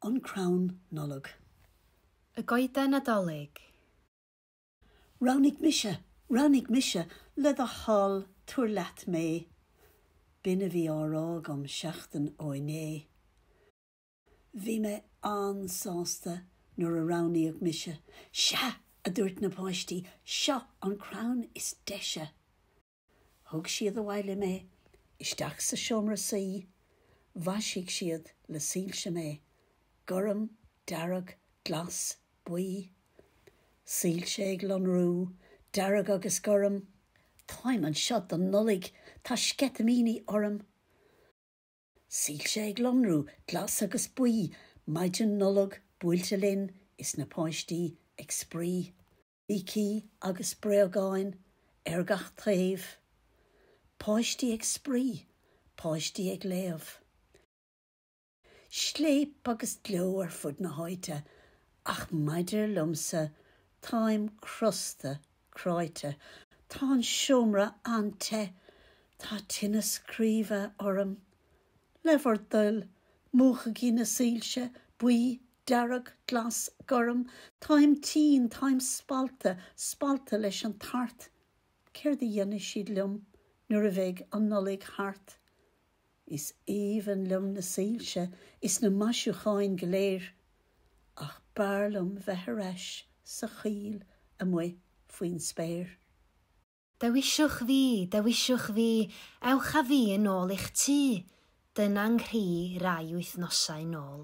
An crann Nollag. Y Goeden Nadolig. Roghnaigh mise, roghnaigh mise, le do thoil tabhair leat mé. B'in a bhí á rá agam seachtain ó inné. Bhí mé an-sásta nuair a roghnaíodh mise. 'Sea! a dúirt na páistí, 'seo an crann is deise! Thug siad abhaile mé, isteach sa seomra suí, mhaisigh siad le soilse mé, gorm, dearg, glas, buí. Soilse ag lonrú, dearg agus gorm. Táim anseo don Nollaig, tá sceitimíní orm. Soilse ag lonrú, glas agus buí, maidin Nollag buailte linn is na páistí ag spraoi. Brící agus bréagáin ar gach taobh. Páistí ag spraoi, páistí ag léamh. Scléip agus gleo ar fud na háite, ach maidir liomsa, táim crosta cráite. Tá an seomra an-te. Tá tinneas craoibhe orm. Le bhur dtoil, múchaigí na soilse, buí Dearg, glas, gorm, táim tinn, táim spallta, spallta leis an tart, céard a dhéanfaidh siad liom nuair a bheidh an Nollaig thart? Is aoibhinn liom na soilse is na maisiúcháin go léir, ach b'fhearr liom bheith ar ais sa choill amuigh faoin spéir. Dewiswch fi, dewiswch fi, ewch â fi yn ôl i'ch tŷ, dyna 'nghri rai wythnosau yn ôl.